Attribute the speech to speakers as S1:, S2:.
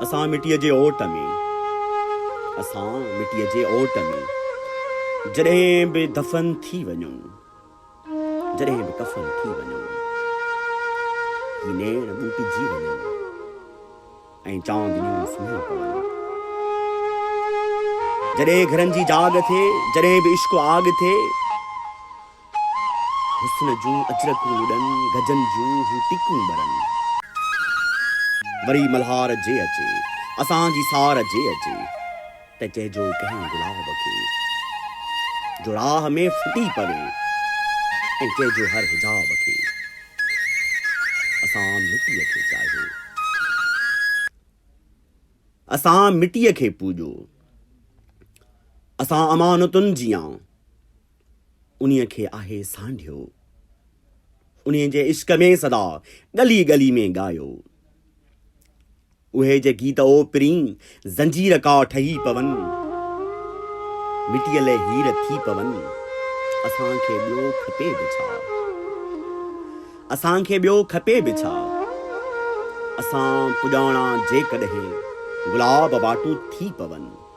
S1: اسان مٽيء جي اوٽ ۾، اسان مٽيء جي اوٽ ۾، جڏهن به دفن ٿي وڃون، جڏهن به ڪفن ٿي وڃون، هي نيڻ ٻوٽجي وڃن ۽ چاندنيون سمهي پون. جڏهن گهرن جي جاڳ ٿئي، جڏهن به عشق آڳ ٿئي. حسن جون اچرڪون لڏن، گجن جون هو ٽيڪون ٻرن. وري ملهار جي اچي، اسان جي سار جي اچي، ته چئجو ڪنهن گلاب کي، جو راهه ۾ ڦٽي پوي، ۽ چئجو هر حجاب کي، اسان مٽيء کي چاهيو. اسان مٽيء کي پوڄو، اسان امانتن جيان. انهيء کي آهي سانڍيو. انهيء جي عشق ۾ سدا ڳلي ڳلي ۾ ڳايو. اهي جي گيت او پرين زنجير ڪا ٺهي پون. مٽيء لئه هير ٿي پون. اسان کي ٻيو کپي به ڇا؟ اسان کي ٻيو کپي به ڇا؟ اسان پڄاڻا جيڪڏهن گلاب واٽون ٿي پون.